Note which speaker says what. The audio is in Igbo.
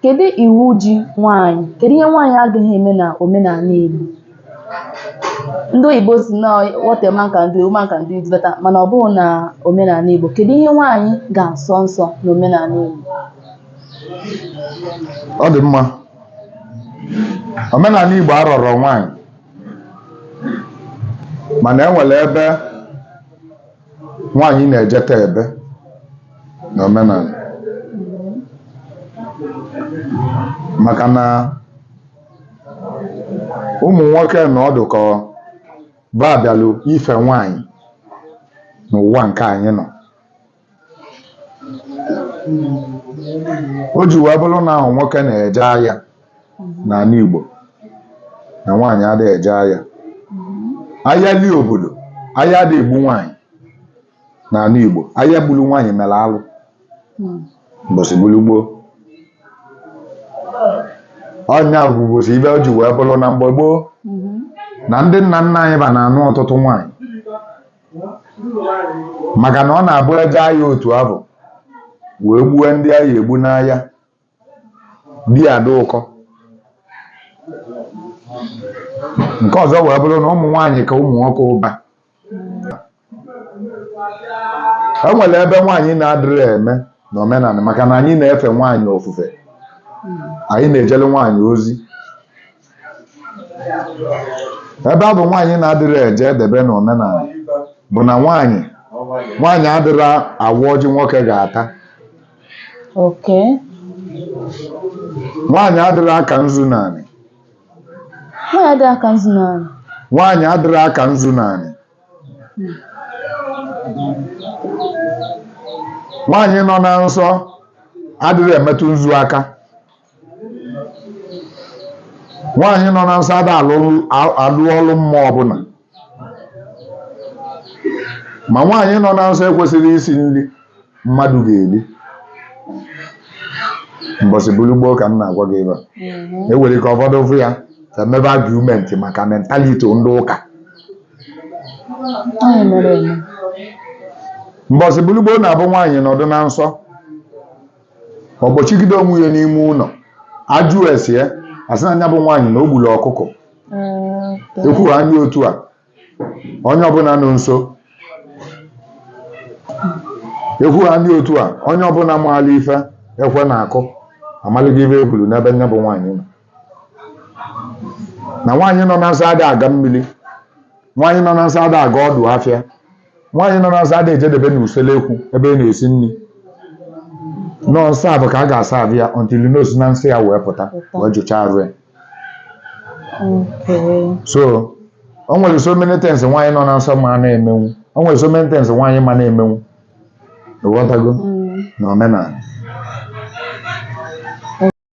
Speaker 1: Kedu iwu ji nwaanyị? Kedu ihe nwaanyị agaghị eme na omenala Igbo? Ndị oyibo si na what a man can do, a woman can do it better mana ọ bụghị na omenala Igbo. Kedu ihe nwaanyị ga-asọ nsọ na omenala Igbo?
Speaker 2: Ọ dị mma. Omenala Igbo arọrọ nwaanyị mana e nwere ebe nwaanyị na-ejedebe n'omenala maka na ụmụ nwoke na ọ dị ka ba bịalụ ife nwaanyị n'ụwa nke anyị nọ o ji wee bụrụ na ọ bụ nwoke na-eje agha n'ala Igbo na nwaanyị adịghị eje agha agha lie obodo agha adịghị egbu nwaanyị n'ala Igbo agha gburu nwaanyị mere alụ mbọsị gburu gboo ọ nya bụ isi ife o ji wee bụrụ na mgbe gboo na ndị nna nna anyị ba na-anụ ọtụtụ nwaanyị maka na ọ na-abụ e je agha otu afụ wee gbuwe ndị a ga-egbu n'agha di adị ụkọ nke ọzọ wee bụrụ na ụmụ nwaanyị ka ụmụ nwoke ụba e nwere ebe nwaanyị na-adịrị eme na omenala maka na anyị na-efe nwaanyị ofufe anyị na-ejere nwaanyị ozi ebe a bụ nwaanyị na-adịrị eje edebe na omenala bụ na nwaanyị nwaanyị adịrị awa ọjị nwoke ga-ata
Speaker 1: oke
Speaker 2: nwaanyị adịrị aka nzu naanị
Speaker 1: nwaanyị dị aka nzu na ala nwaanyị adịrị
Speaker 2: aka nzu naanị nwaanyị nọ na nsọ adịrị emetụ nzu aka nwaanyị nọ na nsọ ada alụlụ a- alụ ọlụ mmụọ ọbụla ma nwaanyị nọ na nsọ ekwesịrị isi nri mmadụ ga-eri mbọsị buru gboo ka m na-agwa gị ebe a Mhm. e nwere ike ụfọdụ fụ ya ka mebe argument maka mentality ndị ụka Anyị mere eme. mbọsị buru gboo na-abụ nwaanyị nọdụ na nsọ ọ gbochigide onwe ya n'ime ụlọ a jụọ ese ya a sị na nya bụ nwaanyị na o gburu ọkụkọ ekwu ha ndị otu a onye ọbụla nọ nso ekwu ha ndị otu a onye ọbụla maala ife ekwe na-akụ amaligo ife e kwuru n'ebe nya bụ nwaanyị nọ na nwaanyị nọ na nsọ ada aga mmiri nwaanyị nọ na nsọ ada aga ọdụ afịa nwaanyị nọ na nsọ ada ejedebe na usekwu ebe a na-esi nri nọ nsọ a bụ ka a ga-asa abụ ya until na o si na nsọ ya wee pụta wee jụchaa arụ ya Okay. so o nwere so many things nwaanyị nọ na nsọ ma na-emenwu o nwere so many things nwaanyị ma na-emenwu ịghọtago Mm. na omenala